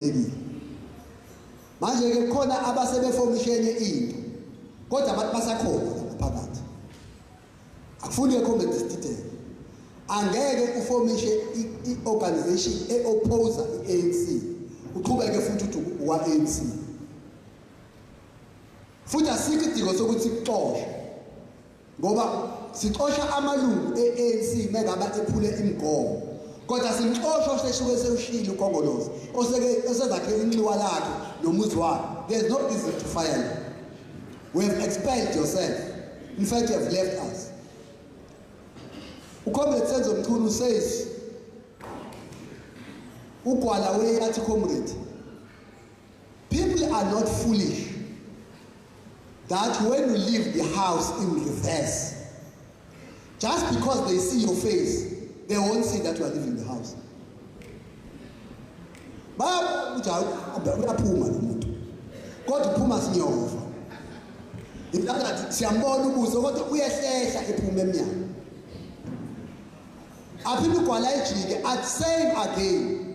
Ebi. Manje ke khona abasebefomishene into. Kodwa abantu basakhona ngaphakathi. Akufuni ke comment detail. Angeke ufomishe i-organization e-oppose i-ANC. Uqhubeke futhi uthi uwa-ANC. Futhi asikho idingo sokuthi kuxoshwe. ngoba sixosha amalungu e-anc mengaba ephule imigomo kodwa simxosha oseshuke sewushile ukhongolozi osezakhele inxiwa lakhe nomuzi wakhe there's no reason to fire you we have expelled yourself in fact you have left us ucomrade senzo mchunu says ugwala weyathi comrade People are not foolish that when you leave the house in reverse, just because they see your face, they won't see that you are leaving the house. uyaphuma lo muntu kodwa uphuma sinyova intangathi siyambona ubuso kodwa uyehlehla ephuma emnyango aphinde ugwala ejike at same again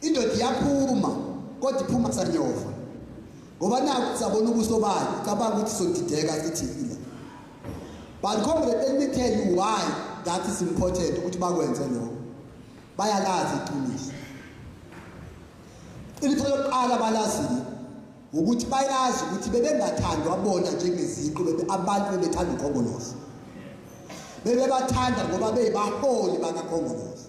Indoda iyaphuma kodwa iphuma sanyova. Ngoba naku sabona ubuso bakhe cabanga ukuthi sodideka sithile. But comrade let me tell you why that is important ukuthi bakwenze lokho. Bayalazi iqiniso. Ilitho lokuqala balazile ukuthi bayazi ukuthi bebengathandwa bona njengeziqu bebe abantu bebethanda ukhongolose. Bebebathanda ngoba beyibaholi bakakhongolose.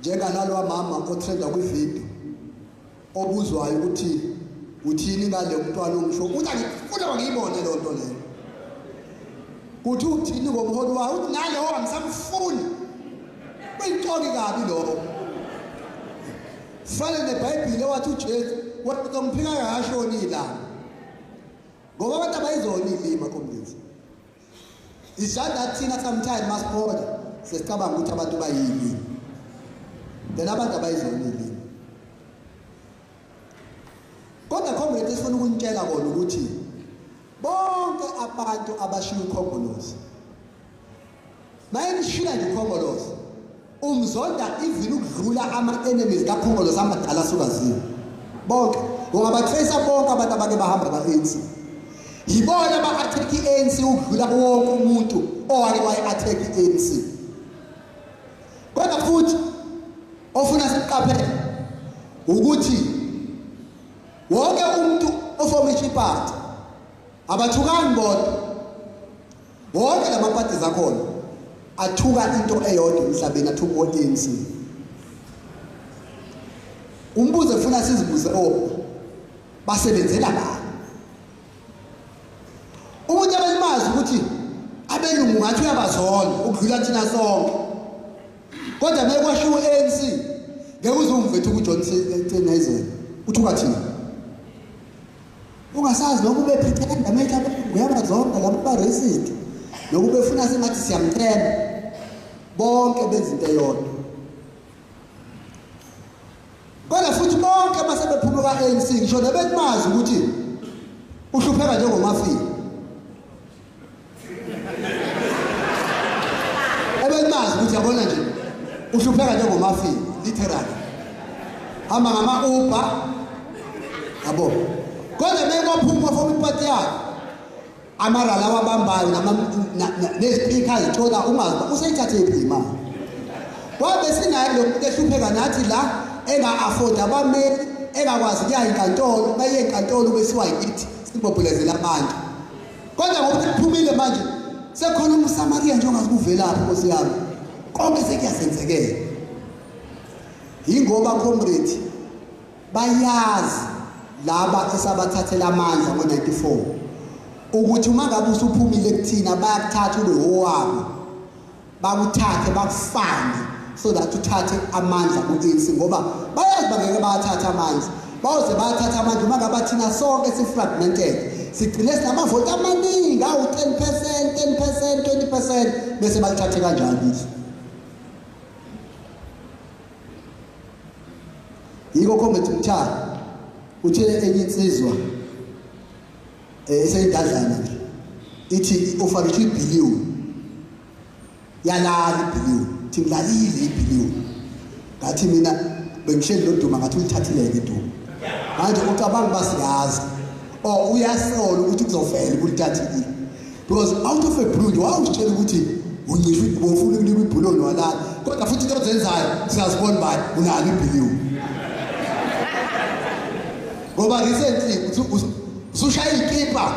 njenganalwa mama otrenda kwivideo obuzwayo ukuthi uthini ngale mntwana ongisho ukuthi angifuna bangiyibone leyo nto leyo kuthi uthini ngomholi wayo uthi naleyo angisamfuni uyixoki kabi lokho fane nebhayibhile wathi ujesu wathi omphika kashoni ilanga ngoba abantu abayizona ilima komlisa It's just that thina sometimes masibona sesicabanga ukuthi abantu bayini. Then abantu abayizona ilimi. Kodwa comrade esifuna ukunitshela kona ukuthi bonke abantu abashiya ukhongolozi. Maye nishila nje ukhongolozi. Umzonda even ukudlula ama enemies kaKhongolo samadala sukaziwe. Bonke ungaba trace bonke abantu abake bahamba ba ANC. Yibona ba attack ANC ukudlula wonke umuntu owake wayi attack ANC. Kodwa futhi ofuna siqaphele ukuthi wonke umuntu oformisha iparty abathukani bodwa Wonke la mapati zakhona athuka into eyodwa emhlabeni athuka o-ANC. Umbuzo efuna sizibuze owo basebenzela bani? Umuntu abelimazi ukuthi abelungu ngathi uyabazona ukudlula thina sonke. Kodwa mekwasho u-ANC ngeke uzumvethu kuJohn Sennheiser uthuka thina. ungasazi noma ubephithenda make abelungu yabazonda laba ba-racist nokubefuna sengathi siyamthemba bonke benza into eyodwa kodwa futhi bonke basebephuma kwa-anc ngisho nebekumazi ukuthi uhlupheka njengomafika ebelimazi ukuthi yabona nje uhlupheka njengomafini literally hamba ngama-uber yabo kodwa mekwaphuma foma ipati yakhe amarala awabambayo nezipikha zithola ungazi uba useyithathephi imali wabe sinaye lokhu ehlupheka nathi la enga-afoda abameli engakwazi kuya enkantolo uma iye enkantolo besiwa yithi sibobhulezela abantu Kodwa ngoba sekuphumile manje sekhona umSamariya nje ongakuvelaphi Nkosi yami. Konke sekuyasenzekela. Yingoba comrade bayazi laba esabathathela amandla ngo-94 ukuthi uma ngabe usuphumile kuthina bayakuthatha ube owabo bakuthathe bakufane so that uthathe amandla ku-ANC ngoba bayazi bangeke bawathathe amandla bayoze bathatha amandla uma ngaba thina sonke si-fragmented sigcine sinamavoti amaningi awu-ten percent ten percent twenty percent bese balithathe kanjalo izwe yiko comrade mthana uthele enye insizwa eh seyidazana nje ithi ufake ithi billion yalala billion ithi ngilalile billion ngathi mina bengihleli loduma ngathi ulithathileke iduma manje ucabanga basiyazi or uyasola ukuthi kuzovela ukuthi thathile because out of a blue nje wawusitshela ukuthi uncisha ubofuna ukuliba ibhuloni walala kodwa futhi into ozenzayo siyazibona ubani unalo ibhiliwu ngoba recently usushaya ikipa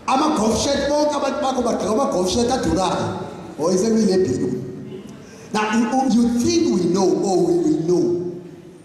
ama-golf shirt bonke abantu bakho bagqoka ama-golf shirt adurayo or isekulile bhiliwu now you think we know or we will know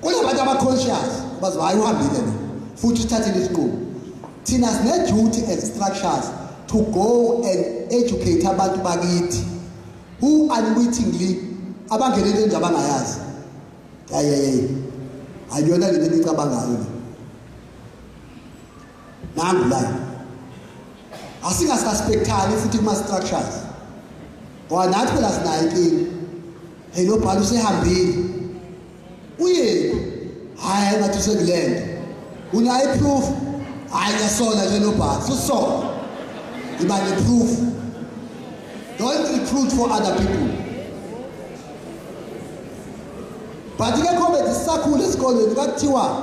kunabantu aba-conscious bazi hhayi uhambile lo futhi usithathile isinqumo thina sine-duty as structures to go and educate abantu bakithi who unwittingly abangenele into abangayazi yayeyeye ayiyona lento engicabangayo le nangu la asingasuspectani futhi kuma-structures ngoba nathi phela sinayo inkinga hey lo bhala usehambile uyephi hhayi ngathi usekulento unayo iproof hhayi ngiyasola nje lo bhala susola iba neproof don't recruit for other people but ke comedy sisakhula esikolweni kwakuthiwa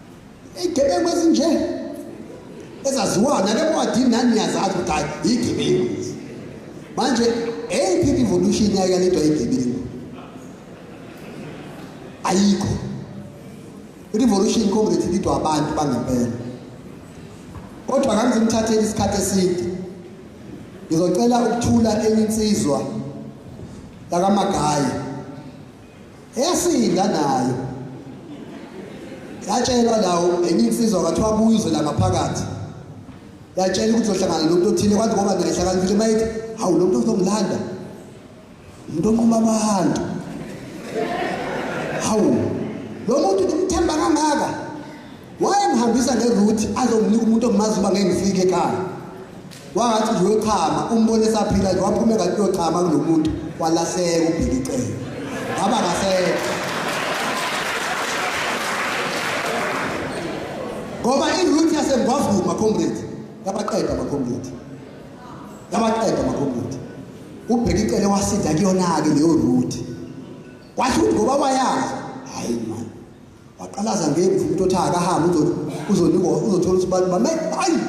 Igebengu ezinje ezaziwayo nale ncwadi nani niyazazi ukuthi hayi igebengu lezi. Manje eyiphi i-revolution yayo yaletwa igebengu? Ayikho. I-revolution comrade lidwa abantu bangempela. Kodwa ngangizimthathela isikhathi eside. Ngizocela ukuthula enye insizwa yakamagayi Yasinda nayo. Yatshelwa lawo enye insizwa kathiwa abuye uze la ngaphakathi. Yatshela ukuthi uzohlangana nomuntu othile kwathi ngoba naye hlakaniphile mayithi hawu lo muntu uzongilanda. Umuntu onquma abantu. Hawu lo muntu ngimthemba kangaka. wayengihambisa ngeruthi azonginika umuntu omazi uba ngeke ngifike ekhaya wangathi nje uyochama umbone esaphila nje waphume kanti uyochama kulo muntu walahleka ubheka icele ngaba ngasekho ngoba iruthi yasengwavuma comrade yabaqeda amacomrade yabaqeda amacomrade ubheka icele wasinda kuyona-ke leyo ruthi wathi ukuthi ngoba wayazi hhayi mani waqalaza ngemvu umuntu othi akahambe uzonikwa uzothola ukuthi abantu bame ayi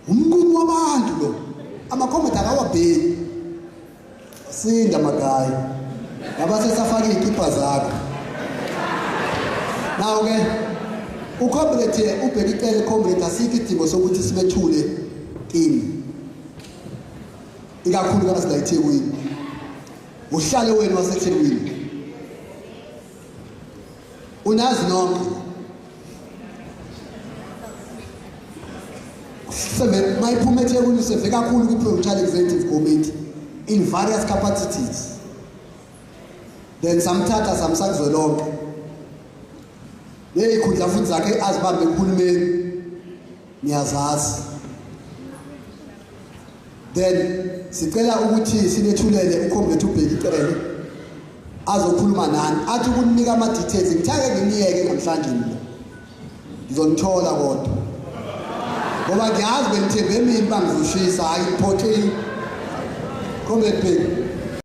umnqumo wabantu lo amakhomenti akawabheki sinda magayi ngaba sesafaka iy'kipha zakho nawo-ke ucomrade ubheke icele comrade asikho idingo sokuthi sibethule kini ikakhulukazi la ethekwini uhlale wenu wasethekwini unazi nonke sebe mayiphuma ethekwini seve kakhulu kwi-provincial executive committee in various capacities then samthatha samsakuzwelonke leyikhundla futhi zakhe azibambe kuhulumeni niyazazi Then sicela ukuthi sinethulele uComrade uBheki Cele azokhuluma nani athi ukunika ama details ngithake nginiyeke namhlanje mina ngizonithola kodwa ngoba ngiyazi benithembe mina bangizishisa hayi iphothile Comrade Bheki